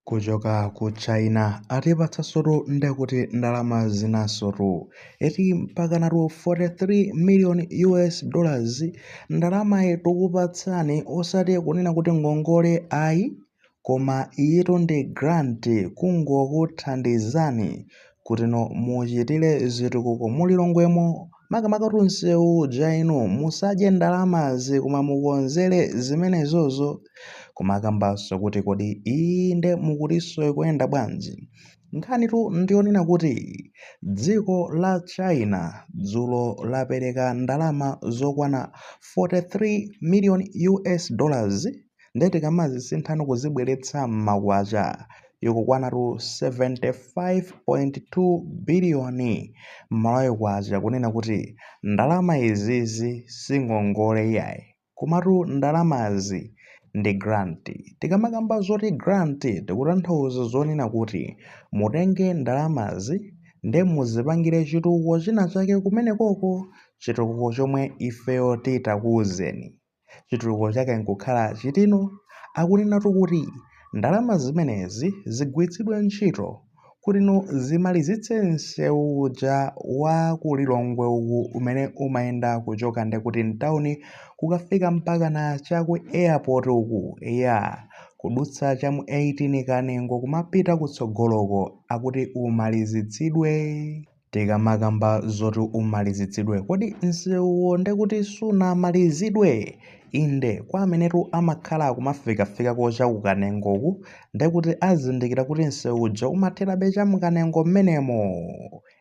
Kuchoka ku China atipatsasotu nde kuti ndalama zinasotu eti mpakanatu 43 million US dollars ndalamayi tikupatsani osati kunena kuti ngongole ayi koma iyitu ndi grant kungokuthandizani kutino muchitire zitukuko mu Lilongwemo Makamaka kuti msewu uja inu musadye ndalamazi koma mukonzere zimenezozo. Kumakambanso kuti kodi iyi nde mukutinso ikuyenda bwanji? Nkhanitu ndi yonena kuti dziko la China dzulo lapereka ndalama zokwana 43 miliyoni US dollars, Ndiye tikamazisinthano kuzibweretsa m'makwacha, ikukwanatu K75.2 biliyoni Malawi kwacha, kunena kuti ndalama izizi singongole iyayi, komatu ndalamazi ndi grant. Tikamakamba zoti grant tikutanthauza zonena kuti mutenge ndalamazi ndiye muzipangire chitukuko chinachake kumenekoko, chitukuko chomwe ifeyo titakuuzeni. chitukuko chake nkukhala chitino, akunenatu kuti ndalama zimenezi zigwiritsidwe ntchito kutino zimalizitse msewu uja wa ku Lilongwe uku umene umayenda kuchoka ndekuti mtauni kukafika mpakana cha ku airport uku eya kudutsa cha mu 18 Kanengo kumapita kutsogoloko akuti umalizitsidwe. Tikamakamba zoti umalizitsidwe, kodi msewuwo nde kuti sunamalizidwe? Inde, kwa amenetu amakhala kumafikafikako cha ku Kanengoku, nde kuti azindikira kuti msewu uja umatherabe cha mu Kanengo mmenemo.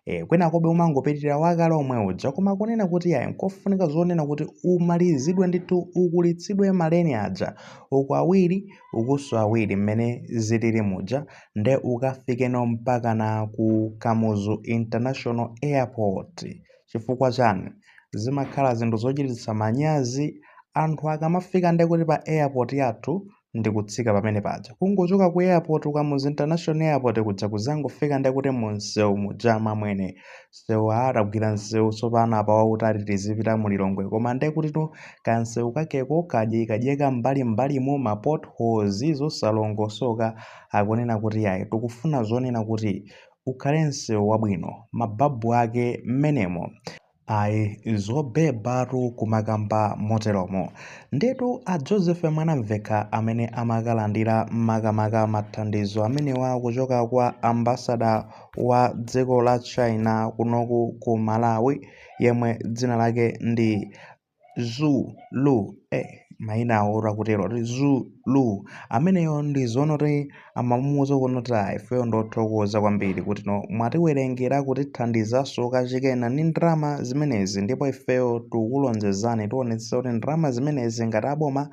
E, kwinakobe umangopitirira wakale omwe uja, koma kunena kuti yayi nkofunika zonena kuti umalizidwe ndithu, ukulitsidwe maleni aja, uku awiri ukuso awiri mmene zilili muja nde ukafikeno mpakana ku kamuzu international airport chifukwa chani? zimakhala zinthu zochititsa manyazi anthu akamafika nde kuti pa airport yathu ndikutsika pamene paja kungochoka ku airport ku kamuzu international airport kuja kuzangofika nde kuti mu msewu muja amwene msewu aa tagwira msewu tsopano apa wautali tizipita mu Lilongwe koma nde kutino kamsewu kakeko kadyekadyeka m'mbalim'mbalimo ma potholes zosalongosoka akunena kuti ayi tikufuna zonena kuti ukhale msewu wabwino mababu ake mmenemo ayi zobebatu kumakamba moteromo ndetu a Joseph Mwanamvekha amene amakalandira makamaka mathandizo amenewa kuchoka kwa ambassador wa dziko la China kunoku ku Malawi yemwe dzina lake ndi Zhu Lu eh, maina awo akutero kuti Zhu Lu ameneyo ndi zoonati amamuuza kunoti ifeyo ndothokoza kwambiri kutino mwatiwerengera kutithandizanso kachikena ni ndalama zimenezi ndipo ifeyo tikulonjezani tionetsetsa kuti ndalama zimenezi ngati aboma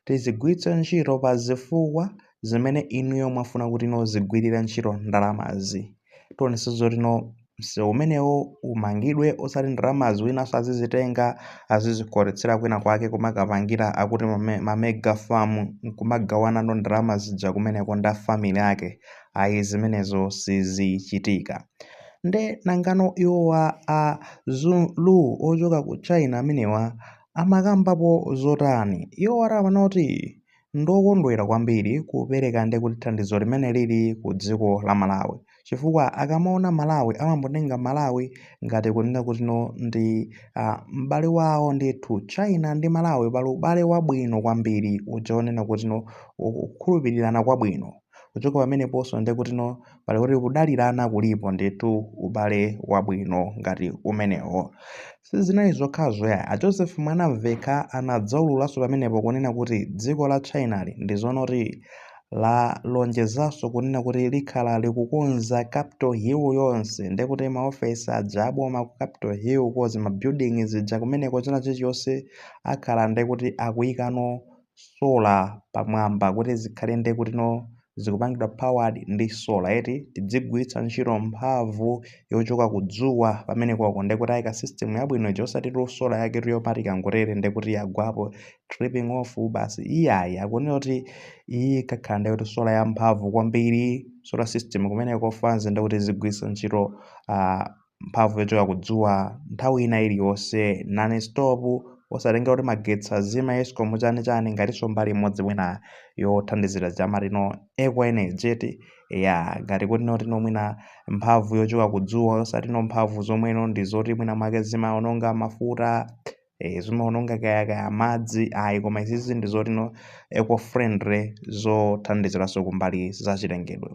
tizigwiritse ntchito pa zifukwa zimene inuyo mwafuna kutino zigwirire ntchito ndalamazi tionese zotino msewu umenewo umangidwe osati ndalamazi winanso azizitenga azizikoletsera kwina kwake kumakapangira akuti mame- mamega farm nkumagawanano ndalama zija kumeneko nda family ake ayi zimenezo sizichitika nde nangano iwowa a Zhu Lu ochoka ku China amenewa amakambapo zotani iwo ati amanoti Ndiokondwera kwambiri kupereka nde kuti thandizo limene lili ku dziko la Malawi chifukwa akamaona Malawi amangotenga Malawi ngati kunena kutino ndi uh, m'bale wawo ndithu China ndi Malawi pali ubale wabwino kwambiri uja onena kutino kukhulupirirana kwabwino kuchoka pameneponso nde kutino pali kuti kudalirana kulipo ndithu ubale wabwino ngati umenewo Sizinali zokhazo ayi, a Joseph Mwanamvekha anadzaululaso pamenepo kunena kuti dziko la China li ndi zoona kuti lalonjezaso kunena kuti likhala likukonza Capital Hill yonse nde kuti ma ofesi aja a boma ku Capital Hill kuzimabuilding zija kumeneko china chilichonse akhala nde kuti akuyikano solar pamwamba kuti zikhale nde kutino zikupangidwa powered ndi solar eti tidzigwiritsa ntchito mphamvu yochoka ku dzuwa pamene koko nde kuti ayika system yabwino ija osati tu solar yake toti ikangotere nde kuti yagwapo tripping off basi iyayi akunena kuti iyi ikakhala nde kuti solar ya mphamvu kwambiri solar system kumeneko fans nde kuti zigwiritsa ntchito ah, mphamvu yochoka kudzuwa nthawi ina iliyonse non stop osatengera kuti magetsi azima escom chani chani ngatinso mbali imodzi mwina yothandizira zamatino eco energy eti ya ngati kuti notino mwina mphamvu yochoka kudzuwa osatino mphamvu zomweno ndi zoti mwina mwake zimaononga mafuta eh, zimaononga kaya kaya madzi ayi koma izizi ndi zotino eco friendly zothandiziranso kumbali za chilengedwe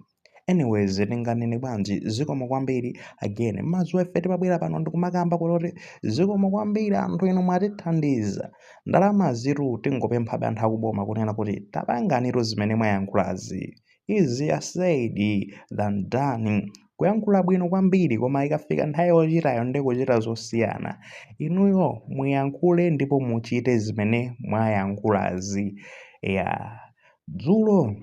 anyways tinganene bwanji zikomo kwambiri again mudziwa ife timabwera pano ndikumakamba kuti zikomo kwambiri anthu inu mwatithandiza ndalamazitu tingopemphabe anthu akuboma kunena kuti tapanganitu zimene mwayankhulazi easier said than done kuyankhula bwino kwambiri koma ikafika nthawi yochitayo ndi kuchita zosiyana inuyo muyankhule ndipo muchite zimene mwayankhulazi ya dzulo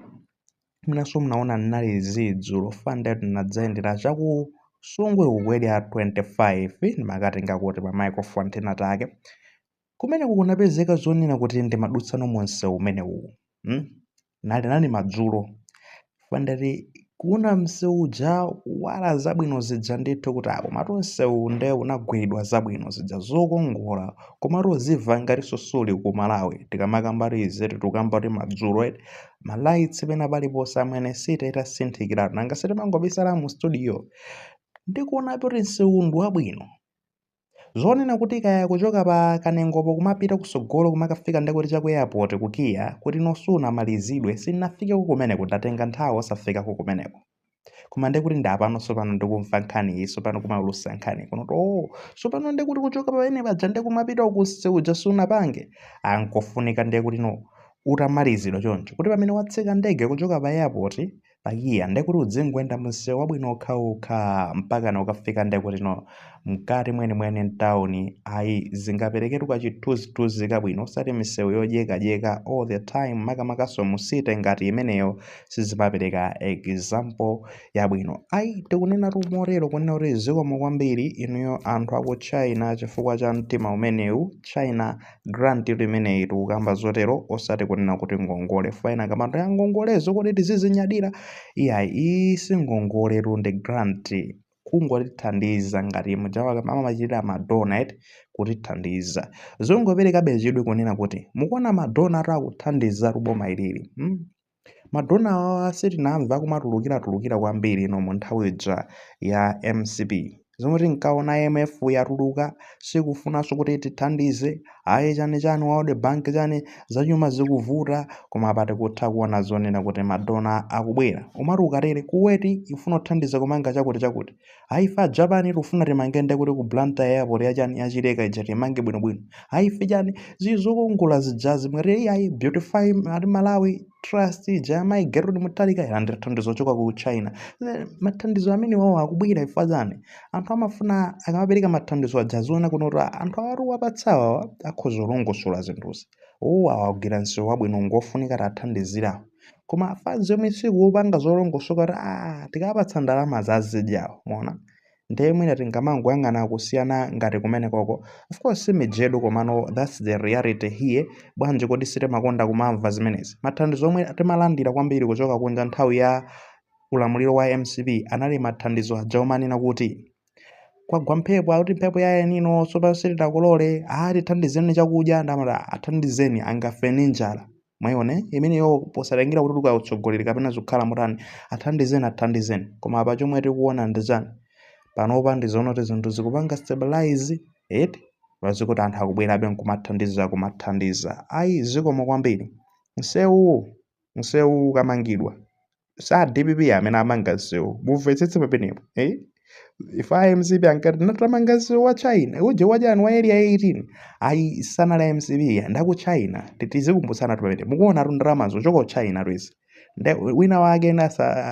Mwinanso munaona ndinali zii dzulo fana ndati ndinadzayendera chaku Nsungwi uku area 25 ndimakatenga kuti pa microphone ti Namtake. Kumeneku kunapezeka zonena kuti ndimadutsano mu msewu umenewu. Mm? Nali nali madzulo. Fana ndati kuona msewu uja wala zabwino zija ndithu kuti apa komatu msewu nde unagwiridwa zabwino zija zokongola komatu uziva ngatinso suli ku Malawi tikamakambatu izi tikukambatu madzulo eti ma lights pena paliponse amene city itasinthikira nanga sitimangobisala mu studio ndikuona kuti msewu ndi wabwino zonena kuti kaya kuchoka pa Kanengopo kumapita kutsogolo kumakafika ndekuti cha ku airport ku KIA kuti no sunamalizidwe sinafikeko kumeneko ndatenga nthawi osafikako kumeneko koma ndiye kuti ndapano tsopano ndikumva nkhani iyi tsopano kumaulutsa nkhani kuno oh tsopano ndiye kuti kuchoka pamene paja ndikumapita uku nseu uja sunapange unkafunika ndiye kuti no utamalizidwa choncho kuti pamene watsika ndege kuchoka pa airport pa KIA ndiye kuti udzingoyenda mu msewu wabwino okhaokha mpakana ukafika ndiye kuti no mkati mwenimweni mtauni ayi zingapereketu kachithunzithunzi kabwino osati misewu yodyekadyeka all the time makamakanso mu city ngati imeneyo sizimapereka example yabwino ayi tikunenatu motero kunena kuti zikomo kwambiri inuyo anthu aku china chifukwa cha mtima umenewu china grantitu imeneyi tikukamba zotero osati kunena kuti ngongole fwa ena akamba nto ya ngongolezo kodi tizizinyadira iyayi iyi si ngongoletu ndi grant kungotithandiza ngati muja wa- amamachitira madona eti kutithandiza zongoperekabe chidwi kunena kuti mukuona madona atu akuthandizatu boma ilili mm? madona awawa sitinamva akumatulukiratulukira kwambiri ino mu nthawi ija ya mcp zomwe tinkaona imf yatuluka sikufunanso kuti tithandize ayi chani chani world bank chani zachuma zikuvuta koma apa tikutha kuona zonena kuti madona akubwera umati ukatere Kuwait ifuna uthandiza kumanga chakuti chakuti ayi ife a japan tikufuna timange nde kuti ku blantyre airport yachani ya Chileka ija timange bwinobwino ayi ife chani zili zokongola zijazi mwatire iyayi beautify malawi trust ija ya mayi gertrude mutharika yalandira thandizo choka ku china Eh, mathandizo amene wawo akubwera ife achani anthu amafuna akamapereka mathandizo aja aziona kuno kuti "Ah, anthu awatu tawapatsawa awa akhoza kulongosola zinthuzi uwu augwira msewu wabwino ngofunika tithandizira awo koma fans yomwe sikupanga zolongosoka kuti "Ah, tikapatsa ndalama adzazidya awo mona ndiye mwina tingamangoyang'ana kusiyana ngati kumene koko of course simijedu komano thats the reality here bwanji kodi sitimakonda kumamva zimenezi mathandizo omwe timalandira kwambiri kuchoka kunja nthawi ya ulamuliro wa mcp anali mathandizo aja omanena kuti kwagwa mphepo akuti mphepo ya El Nino tsopano sitidakolole aa tithandizeni chakudya ndiye amati "Ah, athandizeni angafe ndi njala mwaiona imeneyo posatengera kuti uka utsogoleri kapena zikukhala motani athandizeni athandizeni koma apa chomwe tikuona ndi chani panopa ndizoona kuti zinthu zikupanga stabilize eti moti anthu akubwerabe nkumathandiza kumathandiza ayi zikomo kwambiri msewuwu msewu ukamangidwa si a dpp amene amanga msewu mumvetsetse pamenepo eh? if a mcp ankati ati tamanga msewu wa chinauje wajani wa area 18 ayi sanali a mcp ya ndaku china tizikumbutsanatu pamenepo mukuonatu ndalama zochoka ku china lwezi nde wina wake ena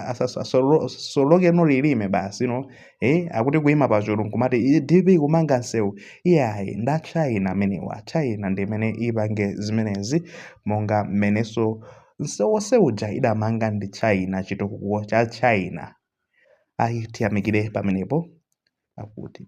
asasolokeno lilime basi no eh akuti kuima pachulu nkumati "Iyi dpp kumanga nsewu iyayi ndi a china amenewa china ndi imene ipange zimenezi monga mmene nsewu wonse uja idamanga ndi china chitukuko cha china ayi tiyamikire pamenepo akuti